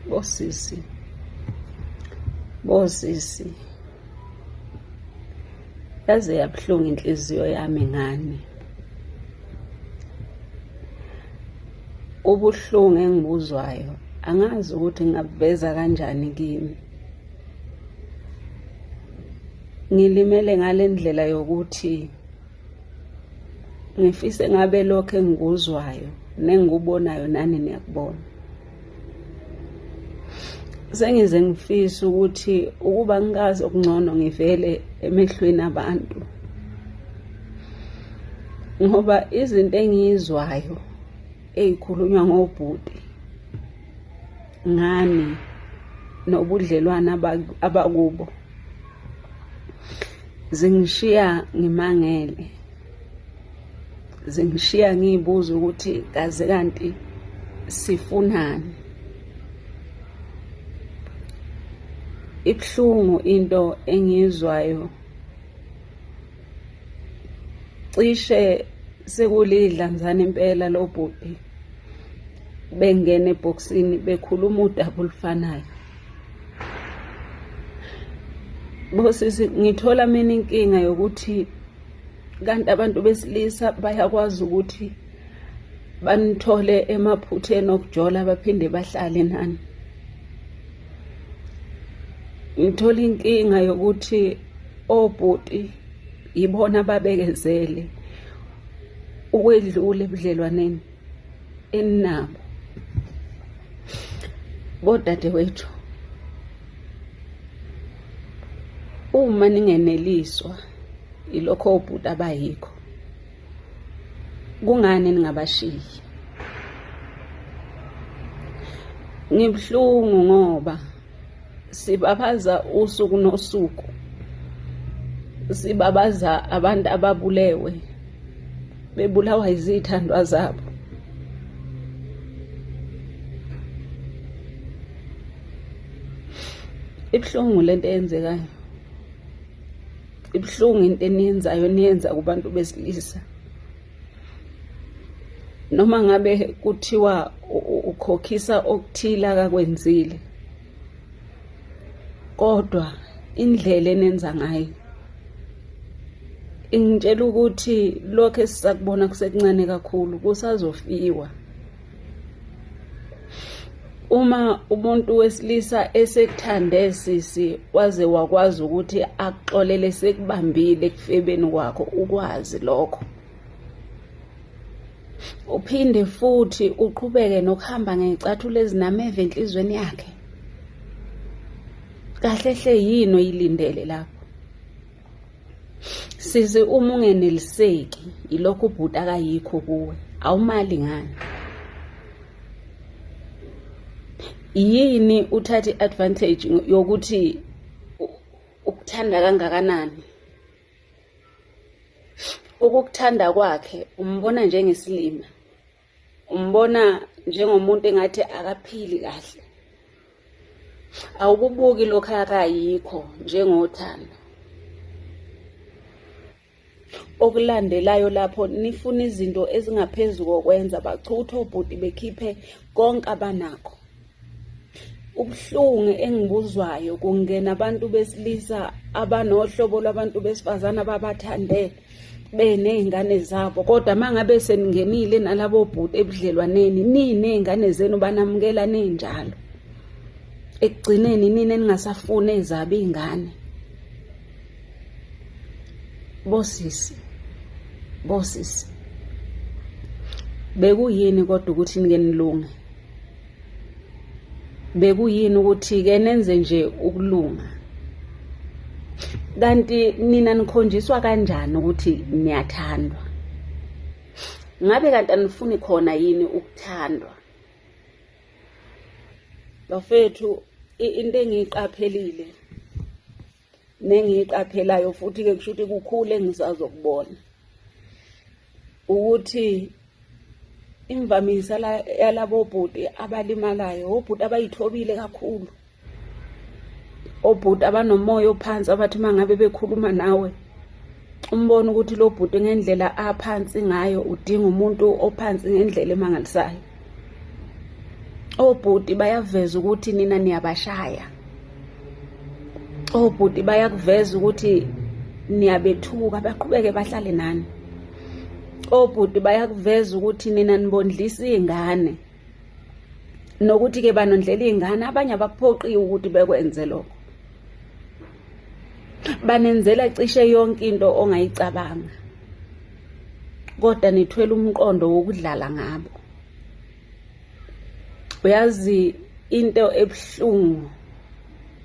bosisi bosisi yaze yabuhlungu inhliziyo yami ngani ubuhlungu engibuzwayo angazi ukuthi ngabuveza kanjani kimi ngilimele ngale ndlela yokuthi ngifise ngabe lokho engikuzwayo nengikubonayo nani niyakubona sengize ngifise ukuthi ukuba ngikazi okungcono ngivele emehlweni abantu ngoba izinto engiyizwayo ezikhulunywa ngobhuti ngani nobudlelwana abakubo zingishiya ngimangele zingishiya ngiyibuza ukuthi kaze kanti sifunani ibuhlungu into engiyizwayo cishe sekulidla mzane impela lo bhuti bengena ebhokisini bekhuluma udaba olufanayo Bosisi ngithola mina inkinga yokuthi kanti abantu besilisa bayakwazi ukuthi banithole emaphutheni okujola baphinde bahlale nani ngithola inkinga yokuthi obhuti yibona babekezele ukwedlula ebudlelwaneni eninabo bodadewethu uma ningeneliswa ilokho obhuti abayikho kungani ningabashiyi ngibuhlungu ngoba sibabaza usuku nosuku sibabaza abantu ababulewe bebulawa izithandwa zabo ibuhlungu lento eyenzekayo ibuhlungu into eniyenzayo niyenza kubantu besilisa noma ngabe kuthiwa ukhokhisa okuthile akakwenzile kodwa indlela enenza ngayo ingitshela ukuthi lokho esisakubona kusekuncane kakhulu kusazofiwa uma umuntu wesilisa esekuthande sisi waze wakwazi ukuthi akuxolele sekubambile ekufebeni kwakho ukwazi lokho uphinde futhi uqhubeke nokuhamba ngecathulo ezinameva enhlizweni yakhe kahle hle yini oyilindele lapho Sisi uma ungeneliseki ilokho ubhuti akayikho kuwe awumali ngani yini uthatha i-advantage yokuthi ukuthanda kangakanani ukukuthanda kwakhe umbona njengesilima umbona njengomuntu engathi akaphili kahle awukubuki lokho akayikho njengothando okulandelayo lapho nifuna izinto ezingaphezu kokwenza bachuthe obhuti bekhiphe konke abanakho ubuhlungu engibuzwayo kungena abantu besilisa abanohlobo lwabantu besifazane ababathandele beney'ngane zabo kodwa uma ngabe seningenile nalabo bhuti ebudlelwaneni niney'ngane zenu banamukela ninjalo ekugcineni nina eningasafuni ezabo iy'ngane bosisi bosisi bekuyini kodwa ukuthi nike nilunge bekuyini ukuthi ke nenze nje ukulunga kanti nina nikhonjiswa kanjani ukuthi niyathandwa ngabe kanti anifuni khona yini ukuthandwa bafethu into engiyiqaphelile nengiyiqaphelayo futhi-ke kusho ukuthi kukhulu engisazokubona ukuthi imvamisa yalabo bhuti abalimalayo obhuti abayithobile kakhulu obhuti abanomoya ophansi abathi uma ngabe bekhuluma nawe umbona ukuthi lo bhuti ngendlela aphansi ngayo udinga umuntu ophansi ngendlela emangalisayo obhuti bayaveza ukuthi nina niyabashaya obhuti bayakuveza ukuthi niyabethuka baqhubeke bahlale nani obhuti bayakuveza ukuthi nina nibondlisa iy'ngane nokuthi-ke banondlela iy'ngane abanye abakuphoqiwe ukuthi bekwenze lokho banenzela cishe yonke into ongayicabanga kodwa nithwele umqondo wokudlala ngabo uyazi into ebuhlungu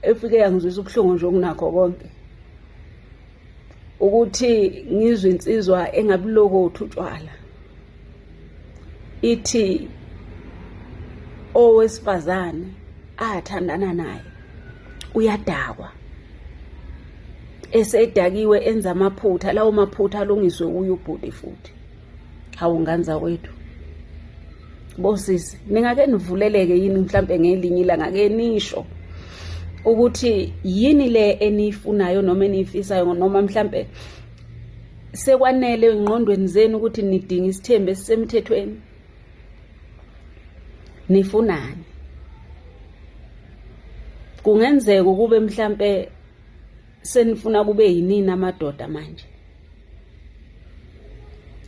efike yangizwisa ubuhlungu nje okunakho konke ukuthi ngizwe insizwa engabulokothi utshwala ithi owesifazane athandana naye uyadakwa esedakiwe enza amaphutha lawo maphutha alungiswe uye ubhuti futhi hawu nganza kwethu bosisi ningake nivuleleke yini mhlampe ngelinye ilanga ke nisho ukuthi yini le eniyifunayo noma eniyifisayo noma mhlampe sekwanele engqondweni zenu ukuthi nidinga isithembu esisemthethweni nifunani kungenzeka ukube mhlampe senifuna kube yinini amadoda manje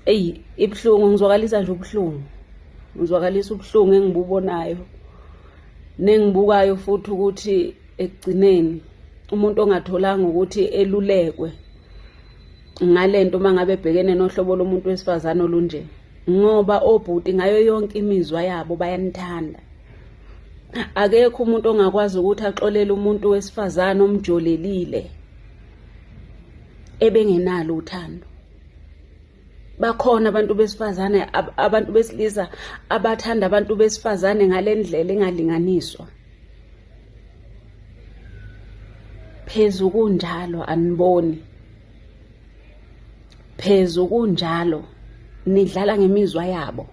eyi ibuhlungu ngizwakalisa nje ubuhlungu ngizwakalisa ubuhlungu engibubonayo nengibukayo futhi ukuthi ekugcineni umuntu ongatholanga ukuthi elulekwe ngalento uma ngabe ebhekene nohlobo lomuntu wesifazane olunje ngoba obhuti ngayo yonke imizwa yabo bayanithanda akekho umuntu ongakwazi ukuthi axolele umuntu wesifazane omjolelile ebengenalo uthando bakhona abantu besifazane abantu besilisa abathanda abantu besifazane ngalendlela engalinganiswa phezu kunjalo aniboni phezu kunjalo nidlala ngemizwa yabo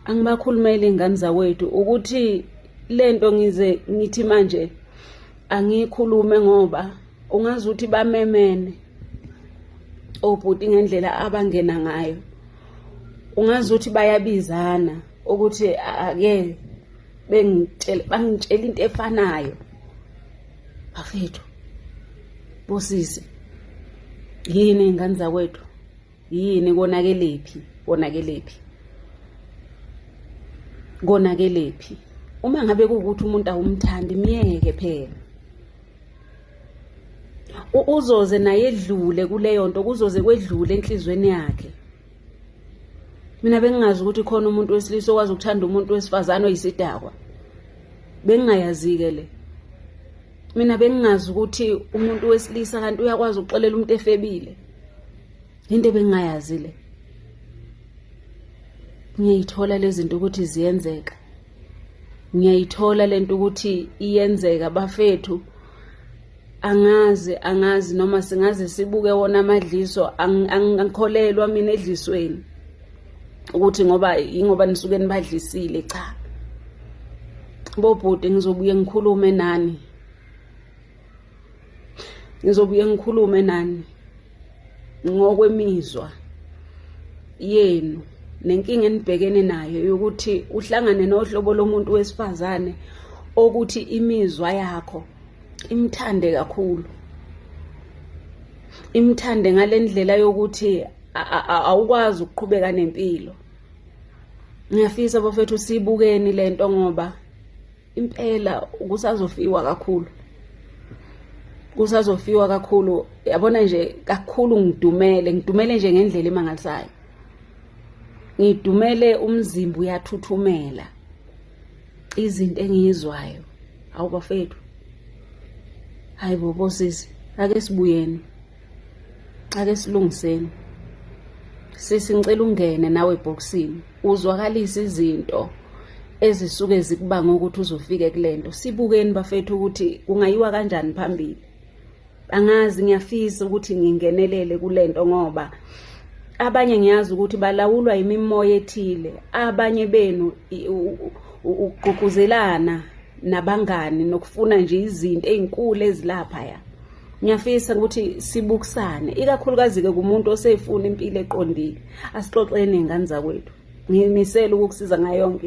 angibakhulumeli ingane zakwethu ukuthi lento ngize ngithi manje angikhulume ngoba ungazi ukuthi bamemene obhuti ngendlela abangena ngayo ungazi ukuthi bayabizana ukuthi ake bengitshela bangitshela into efanayo bafethu bosisi yini ingane zakwethu yini konakelephi konakelephi konakelephi uma ngabe kuwukuthi umuntu awumthandi myeke phela uzoze naye edlule kuleyo nto kuzoze kwedlule enhlizweni yakhe mina bengingazi ukuthi khona umuntu wesilisa okwazi ukuthanda umuntu wesifazane oyisidakwa bengingayazi-ke le mina bengingazi ukuthi umuntu wesilisa kanti uyakwazi ukuxolela umuntu efebile into ebengingayazi le ngiyayithola lezi zinto ukuthi ziyenzeka ngiyayithola lento ukuthi iyenzeka bafethu angazi angazi noma singaze sibuke wona amadliso angikholelwa mina edlisweni ukuthi ngoba ingoba nisuke nibadlisile cha bobhuti ngizobuye ngikhulume nani ngizobuye ngikhulume nani ngokwemizwa yenu nenkinga enibhekene nayo yokuthi uhlangane nohlobo lomuntu wesifazane okuthi imizwa yakho imthande kakhulu imthande ngalendlela yokuthi awukwazi ukuqhubeka nempilo ngiyafisa bafethu sibukeni lento ngoba impela kusazofiwa kakhulu kusazofiwa kakhulu yabona nje kakhulu ngidumele ngidumele nje ngendlela emangalisayo ngidumele umzimba uyathuthumela izinto engiyizwayo awubafethu hayi bobo sisi ake sibuyeni ake silungiseni sisi ngicela ungene nawe ebhokisini uzwakalisa izinto ezisuke zikubanga ukuthi uzofike kulento sibukeni bafethu ukuthi kungayiwa kanjani phambili angazi ngiyafisa ukuthi ngingenelele kulento ngoba abanye ngiyazi ukuthi balawulwa imimoya ethile abanye benu ukugqugquzelana nabangani nokufuna nje izinto ezinkulu ezilapha ya ngiyafisa ukuthi sibukisane ikakhulukazi-ke kumuntu oseyifuna impilo eqondile asixoxeni ngane zakwethu ngimisele ukukusiza ngayo yonke